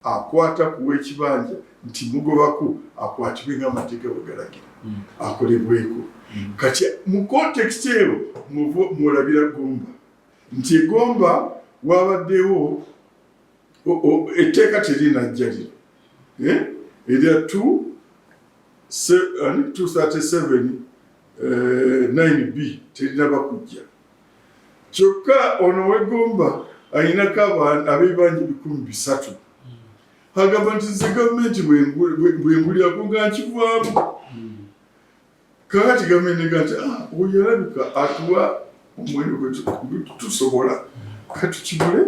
akwata ku w'ekibanja nti mugobako akwatibwe ng'amateeka bwe galagira hmm. akolebweko hmm. kati mu kontekisi eyo mwolabira gomba nti egomba wabaddewo etteeka terinajjalira eh? erya 237 9 eh, b terinaba kujja kyokka ono wegomba alinako abantu abebanja ebikumi bisatu agamba nti ze gavumenti bwengulira kuga nkivaamu kakati gavumenti ega nti ah, oyo alabika atuwa omwendo gwetusobola katukibule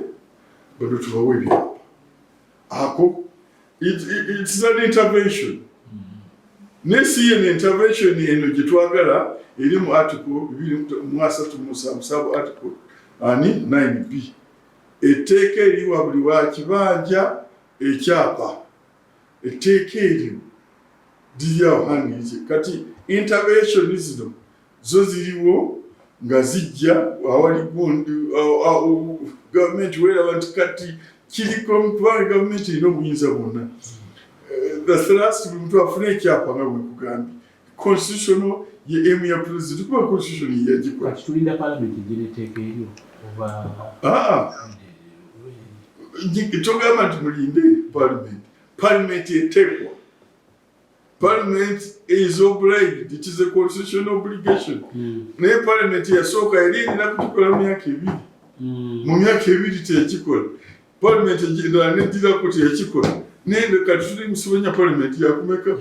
bano tubawe ebyapa ako It, it, it's an intervention. Naye si yeno intervention eno gye twagala eri mu article bibiri mu asatu mu musanvu saabu article ani 9b etteeka eriwa buli wa kibanja ekyapa etteeka eryo liryawo hangi kati intervention zino zo ziriwo nga zijja awali gundi gavumenti weeraba nti kati kiriko mutwale gavumenti erina obuyinza bwonna eh, the thrust buli muntu afuna ekyapa nga bwekugambye constitutional ye emu ya president kuba constitution yeyagikola tulinda parliament egireteeka eryo oba ah, togamba nti mulinde parliament parliament eteekwa parliament is obliged it is a constitutional obligation mm. naye parliament yasooka yali erina kukikola mu myaka ebiri mm. mu myaka ebiri teyakikola parliament endala nedirako teyakikola naye kati tuli musibonya parliament yakumeka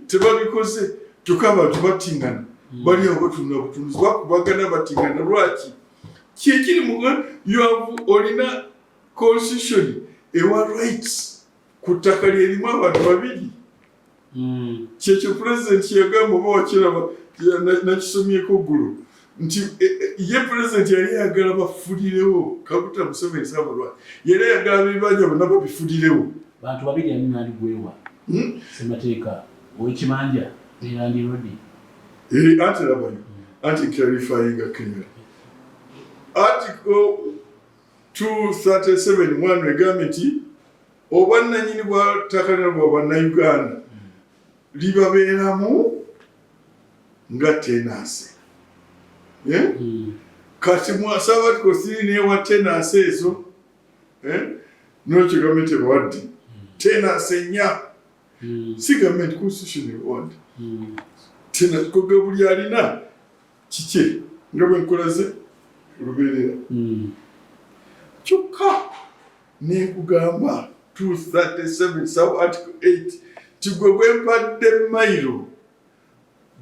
tebabikoze kyokka abantu batingana mm. bali awo batunula butunuzi bakubagana batingana lwaki kyekiri mu yoavu olina constitution ewa rights ku ttaka lyerimu abantu babiri hmm. kyekyo pulezidenti yagamba oba wakiraba nakisomyeko ggulu nti e, e, ye pulezidenti yali ayagala bafulirewo kakuta museveni sabalwa yali ayagala bibanja bonna babifulirewo bantu babiri ani nandi gwewa hmm? semateeka owekibanja nelandi rodi eh, ati labayo hmm. anti clarifyinga clear ati 237 mwano egambye nti obwannanyini bwa ttaka lino bwa bannayuganda libabeeramu nga tenansi eh? hmm. kati mwasaba ti kosiri newa tenansi ezo eh? nokyo gavumenti ebawadde hmm. tenansi enya hmm. si gavumenti constitution ebawadde tena kogabuli alina kikye nga bwe nkulaze lubeerera hmm. kyokka nenkugamba 237 saw article 8 ti gwe gwempadde mailo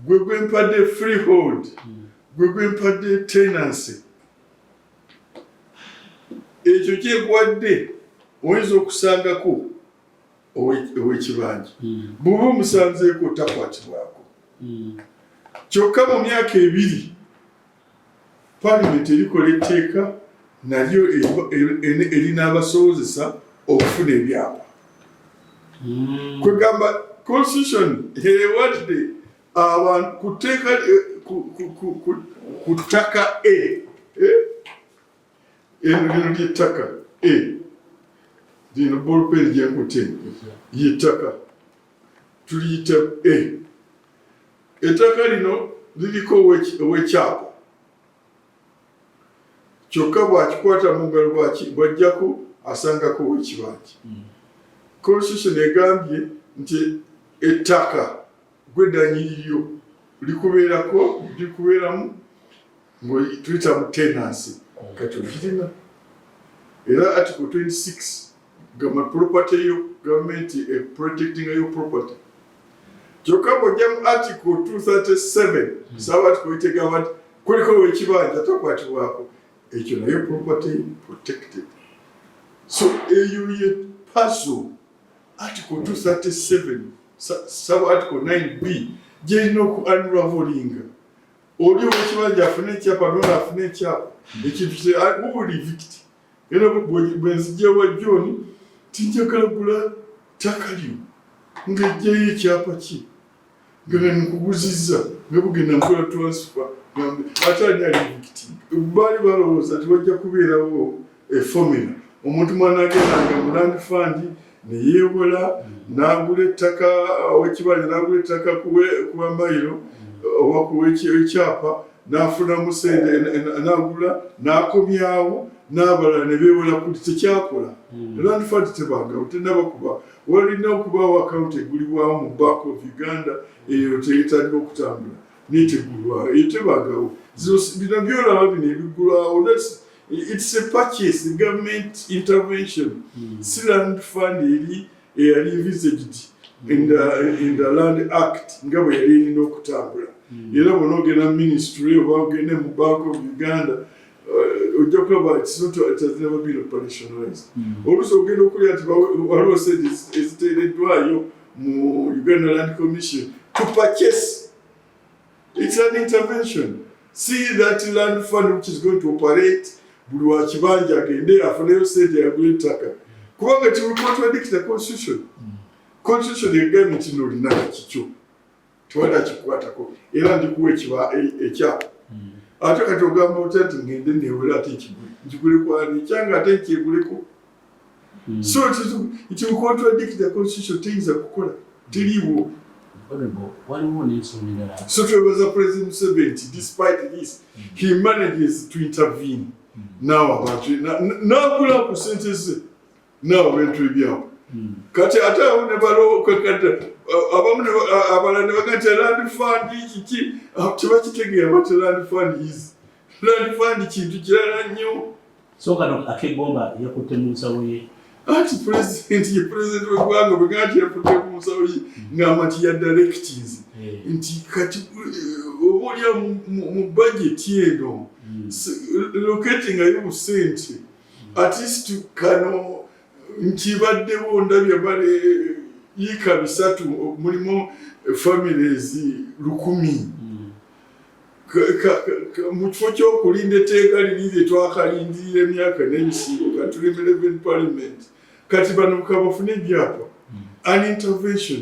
gwe gwempadde freehold hmm. gwe gwempadde tenancy ekyo kyekuwadde oyinza okusangako ow'ekibanja hmm. bw'oba omusanzeeko takwatibwako hmm. kyokka mu myaka ebiri palamenti erikola etteeka nalyo erinaabasobozesa okufuna ebyapa hmm. kwegamba constitution ewadde abantu ku tteeka eh, ku ttaka e eh? Enuliro ly'ettaka e lino bolupeeri gyenkutte y'ettaka tuliyita e ettaka lino liriko ow'ekyapa kyokka bwakikwata mu ngalo bwajjako asangako ow'ekibanja constitution egambye nti ettaka gwe danyini lyo likubeerako likubeeramu ngaoyituyita mu tenansi kati ogirina era article 26 gama property yo gavumenti e protectinga yo property kyokka bwojja mu article 237 hmm. saba tikuitegamba nti kuliko wekibanja takwatibwako ekyo nayo property protected so eyo ye pazo Article 237 sub article 9b gyerina oku unravelinga oli owekibanja afune ekyapa nona afune ekyapa ekintu wuli vict era bwenzijewa joni tinjagala gula ttaka lyo ngejjayo ekyapa ki ngene mukuguzizza ne bugenda nkola transfer gambe ate ani ali mukiti baali balowooza nti wajja kubeerawo efomula omuntu mwana agendanga mu land fund neyewola nagula ettaka wekibanja nagula ettaka kuwa mayiro oba kuwa ekyapa nafunamu sente nagula nakomyawo nabalala nebewola kuli tekyakola hmm. land fund tebagawo tenabakuba walina okubaawo akawunti egulibwawo mu bank of uganda eyo teyetandika okutambula netegulwawo eyo tebagawo bino byolaba bino ebigulwawo its a purchase government intervention hmm. si land fund eri eyali envisaged in the, in the land act nga bwe yali erina okutambula hmm. era bona ogenda ministry oba ogende mu bank of uganda uh, ojja kulaba kisinaba bino palisonalize hmm. oluusi ogenda okulya nti waliwo sente eziteereddwayo mu uganda land commission to purchase its an intervention see that land fund which is going to operate buli wakibanja agende afuneyo sente yagula ettaka kubanga kibukontradikita constitution constitution egambye kino olina kikyo tewala kikwatako era ndikuwa ekiba e- ekyapa hmm. ate kati ogamba otya nti ngende newera ate ekigule nkigule kwani kyanga ate nkyeguleko hmm. so kikontradikti the constitution teyinza kukola teliiwo so twebaza president museveni nti despite this hmm. he manages to intervene naw abantu nagula ku sente ze naawe bintu ebyawo hmm. kati ate awo ne balokwekata abamu abala ne baga nti land fund kiki tebakitegeera bat land fund is land fund kintu kirala nnyo so kano akegomba yakutte mu nsawo ye anti pulezidenti ye pulezidenti wegwanga bwe ganti yafudde ku musawo ye ngamba nti yadalekitizi eh. nti kati eh, oba olya mu bajeti eno hmm. locatingayo busente at least kano nkibaddewo ndabye bale yiika bisatu mulimu families lukumi mu kifo kyokulinda etteeka liri lye twakalindirira emyaka n'ebisingo katuli mu eleven parliament kati bano kabafune ebyapa an intervention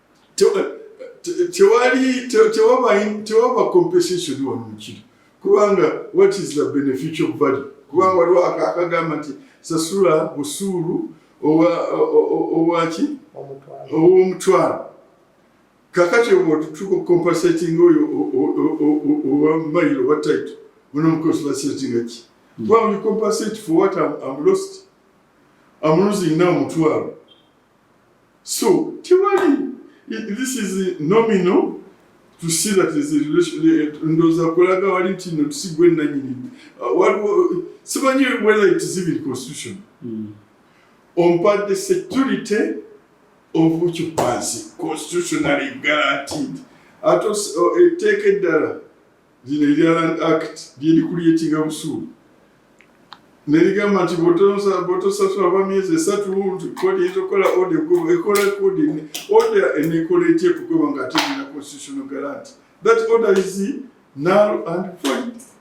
tewali tewaba compensation wano mukiri kubanga what is the beneficial value kubanga waliwo akagamba nti sasula busuulu owaki owomutwalo kakati otutuka compensating oyo owa mail owa title unomconsulatingaki mm. well you compensate for what I'm, I'm lost I'm losing now mutwalo So tewali this is nominal to see that is a relationship ndoza kulaga wali nti no tusigwe nanyini uh, waliwo simanyi whether it is even constitution mm. ompa the security of which was constitutionally guaranteed ate etteeka eddala Lino erya Land Act lyerikuleetinga busuulu nerigamba nti bwotosasula ba myezi esatu nti kodi eyinza okukola ode egoba ekola kodi ode enekola etya ekugoba nga ate erina constitutional guarant that order is null and void